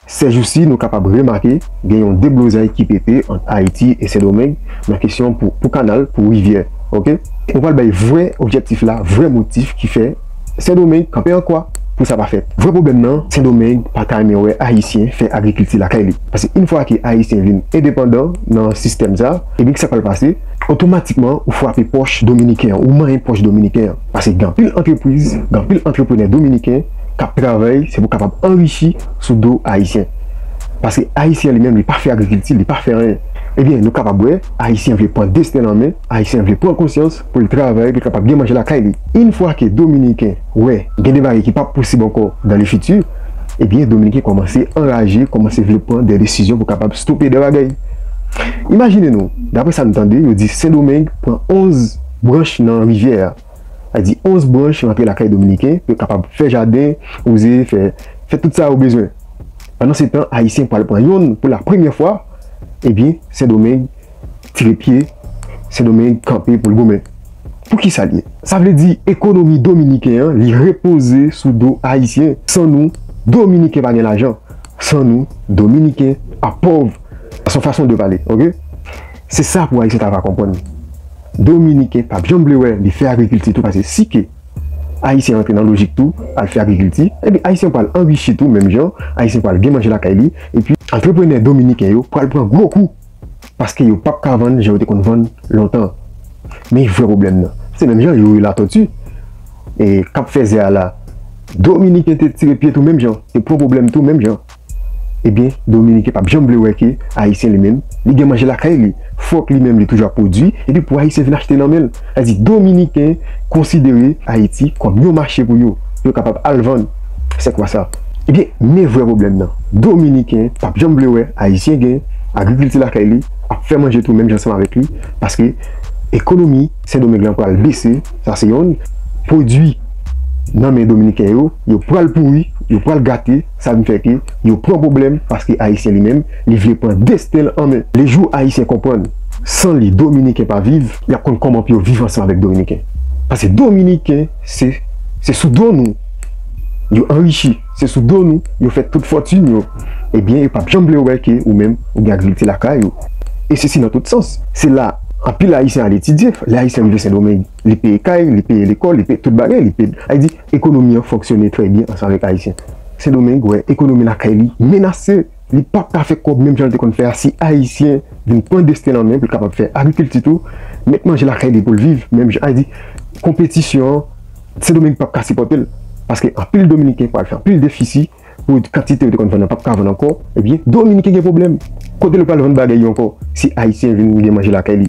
Sèjousi nou kapab remake gen yon deblozay ki pete ant Ayiti e Sendomeng nan kesyon pou pou kanal pou rivyè ok mwen pral bay vrè objektif la vrè motif ki fè Sendomeng kanpe an kwa pou sa pa fèt vrè pwoblèm nan Sendomeng pa ta renmen wè Ayisyen fè agrikilti lakay li paske yn fwa ke Ayisyen vin endepandan nan sistèm sa ebyen kisa k pral pase otomatikman ou fwape pòch Dominiken an ou manyen pòch Dominiken an paske gen anpil antrepriz gen anpil antreprenè Dominiken k ap travay se pou kapab anrichi. sou do ayisyen paske ayisyen li menm li pa fè agrikilti li pa fè anyen ebyen nou kapab wè ayisyen vle pran desten l an men ayisyen vle pran konsyans pou l travay pou l kapab gen manje lakay li yn fwa ke dominiken wè gen de bagay ki pap posib ankò dan le fiti ebyen dominiken kòmanse anraje kòmanse vle pran de desizyon pou kapab stope de bagay imajine nou daprè sa n tande yo di sendomeng pran 11 branch nan rivyè a. Sa di 11 branch rantre lakay dominiken pou yo kapab fè jaden, wouze, fè fè tout sa yo bezwen. Pandan se tan ayisyen pwal pran yonn pou la premyè fwa, ebyen sendomeng tire pye, sendomeng kanpe poul goumen. Pou kisa l ye? Sa vle di ekonomi dominiken an li repoze sou do ayisyen, san nou dominiken pa gen lajan, san nou dominiken ap pòv, se yon fason de pale ok. Se sa pou ayisyen ta va konprann. Dominiken pap janm vle wè li fè agrikilti tou pase si ke ayisyen rantre nan lojik tou al fè agrikilti epi ayisyen pwal anrichi tou menm jan ayisyen pwal gen manje lakay li epi antreprenè dominiken yo pwal pran gwo kou paske yo pap ka vann jan yo te konn vann lontan men vrè pwoblèm nan se menm jan youri latòti e kap fèzè a la dominiken te tire pye tou menm jan te pran pwoblèm tou menm jan. Ebyen dominiken pap janm vle wè ke ayisyen li menm li gen manje lakay li fòk li menm li toujou ap pwodwi epi pou ayisyen vin achte nan menl sa di dominiken konsidere ayiti kòm yon mache pou yo pou yo kapab al vann se kwa sa ebyen men vrè pwoblèm nan dominiken pap janm vle wè ayisyen gen agrikilti lakay li ap fè manje tou menm jan ansanm avèk li paske ekonomi sendomeng lan pral bese sa se yonn pwodwi nan men dominiken yo yo pral pouri yo pral gate. Sa vin fè ke yo pran pwoblèm paske Ayisyen li menm, li vle pran desten l an men. Le jou Ayisyen konprann san li Dominiken pa viv, y ap konn kòman pou yo viv ansanm avèk Dominiken. Paske Dominiken se se sou do nou yo anrichi, se sou do nou yo fè tout fòtin yo. Ebyen yo p ap janm vle wè ke ou menm ou gen agrikilti lakay ou. E sesi nan tout sans. Se la anpil Ayisyen al etidye. Le Ayisyen rive Sendomeng, li peye kay, li peye lekòl, li peye tout bagay. Li peye, sa vle di, Ekonomi an fonksyone trè byen ansanm avèk Ayisyen. Sendomeng wè ekonomi lakay li menase, li pap ka fè kòb menm jan li te konn fè a si Ayisyen vin pran desten an men pou l kapab fè agrikilti tou, met manje lakay li pou l viv menm jan a di konpetisyon an Sendomeng pap ka sipòte l paske anpil dominiken pral fè anpil defisi pou kantite yo te konn vann an pap ka vann ankò ebyen dominiken gen pwoblèm kote l pral vann bagay yo ankò si Ayisyen vin gen manje lakay li.